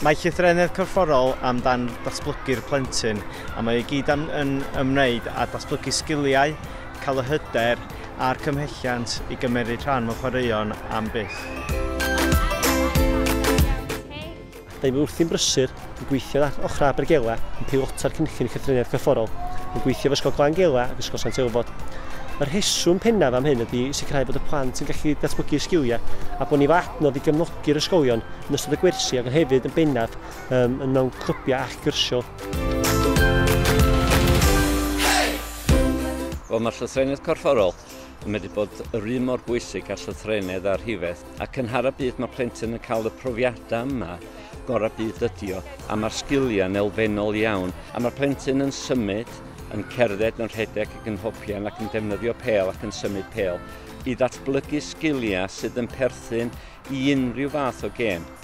Mae llythrennedd corfforol amdan datblygu'r plentyn a mae i gyd am, yn ymwneud â datblygu sgiliau, cael y hyder a'r cymhelliant i gymmeryd rhan mewn chwaraeon am byth. Dw i wrthi'n brysur yn gweithio â Ochrau Abergele yn peilota'r cynllun llythreniaeth corfforol, yn gweithio efo Ysgol Glan Gela ac Ysgol Sant Elfod. Y rheswm pennaf am hyn ydy sicrhau bod y plant yn gallu datblygu eu sgiliau a bod ni efo adnodd i gefnogi'r ysgolion yn ystod y gwersi ac hefyd yn bennaf um, yn mewn clybiau ac gyrsiau. Wel, mae llythreniaeth corfforol yn medru bod yr un mor bwysig â llythrennedd a rhifedd. a cynhara byd mae plentyn yn cael y profiadau yma gorau byd ydi o, a mae'r sgiliau yn elfennol iawn, a mae'r plentyn yn symud, yn cerdded, yn rhedeg ac yn hopian ac yn defnyddio pel ac yn symud pel i ddatblygu sgiliau sydd yn perthyn i unrhyw fath o gêm.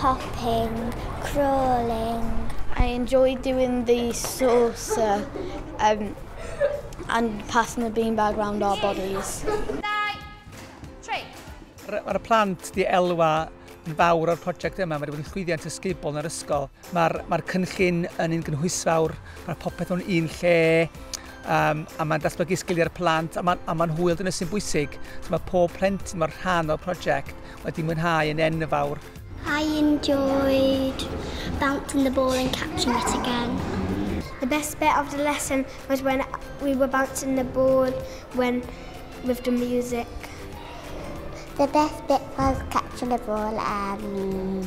hopping, crawling. I enjoy doing the saucer um, and passing the beanbag round our bodies. Mae'r plant di elwa yn fawr o'r prosiect yma, mae wedi bod yn llwyddiant ysgubol yn yr ysgol. Mae'r mae cynllun yn un gynhwysfawr, mae popeth o'n un lle, um, a mae'n datblygu sgiliau'r plant, a mae'n ma, ma hwyl dyna sy'n bwysig. So mae pob plentyn mor rhan o'r prosiect wedi mwynhau yn enfawr. I enjoyed bouncing the ball and catching it again. The best bit of the lesson was when we were bouncing the ball when with the music. The best bit was catching the ball and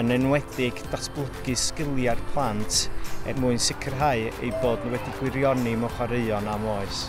yn enwedig datblygu sgiliau'r plant er mwyn sicrhau eu bod nhw wedi gwirioni mewn chwaraeon am oes.